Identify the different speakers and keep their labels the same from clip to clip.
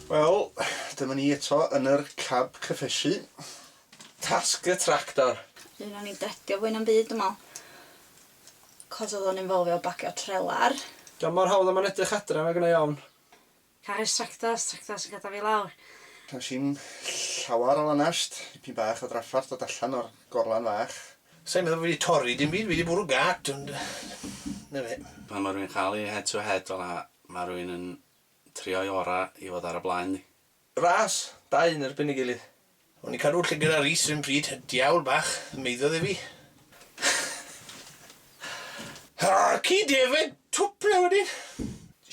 Speaker 1: Wel, dyma ni eto yn yr cab cyffesu. Tasg
Speaker 2: y tractor. Un o'n i'n dredio
Speaker 3: fwy na'm byd dwi me'wl. 'C'os odd o'n involfio bacio trelar. Di o'm mor hawdd a
Speaker 4: ma'n edrych adra nag yna iawn. Caru'r
Speaker 3: tractor, tractor sy'n gatal fi lawr. Does dim
Speaker 1: llawar o lanast, dipyn bach o draffarth dod allan o'r gorlan fach. Sai'n meddwl fi 'di
Speaker 2: torri dim byd, fi 'di bwrw gât ond 'na fe. Pan ma' rwy'n cael ei
Speaker 5: head to head fel'a, ma' rwy'n yn trio'i ora' i fod ar y blaen ddi. Ras,
Speaker 2: dau yn erbyn ei gilydd. O'n i'n cadw llygad ar Rees run pryd, y diawl bach, maeddodd e fi. Harci defaid twp yw e wedyn!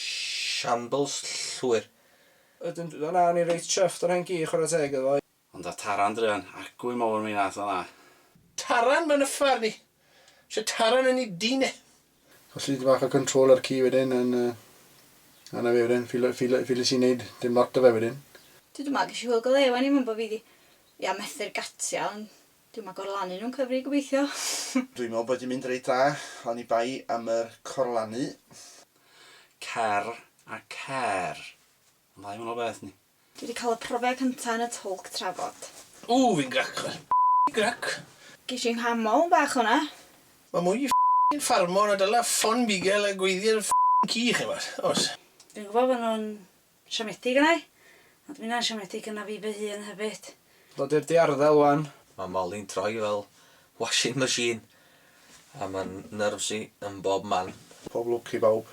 Speaker 2: Shambles llwyr. Ydyn,
Speaker 4: do na, o'n i'n reit chuffed o'r hen gi, chwarae teg iddo fo. Ond a Taran druan,
Speaker 5: acw i mowr mi nath o dda. Taran
Speaker 2: mae'n yffar ni. Ise Taran yn i dyn e. Colli dipyn
Speaker 1: bach o control ar ci wedyn yn yy a na fe wedyn ffili ffili ffilis i neud dim lot da fe wedyn. Dwi dwma gesh i hwyl
Speaker 3: go lew wan i mumbo fi ddi ia methu'r gatia ond dwi yma gorlanu nhw'n cyfri gobeithio. Dwi me'wl bod
Speaker 1: i mynd reit dda oni bai am yr corlanu.
Speaker 5: Cer a cer. Yn dda i wanol beth ni. Dwi 'di cael y profiad
Speaker 3: cynta yn y twlc trafod. Ww fi'n grac
Speaker 2: chwarae ffycin grac. Ges i
Speaker 3: 'nghamol bach hwnna. Mae mwy i
Speaker 2: ffycin ffarmo na dala ffon bugel a gweiddi ar ffycin ci chi wbod, oes? Dwi'n gwybod fod nhw'n
Speaker 3: siomedig yna i, ond mae hynna'n siomedig yna fi fy hun hefyd. Dod i'r diarddel
Speaker 4: wan. Mae Molly'n troi
Speaker 6: fel washing machine a mae'n nerves i
Speaker 1: yn
Speaker 6: bob
Speaker 1: man.
Speaker 6: Pob
Speaker 1: lwc i bawb.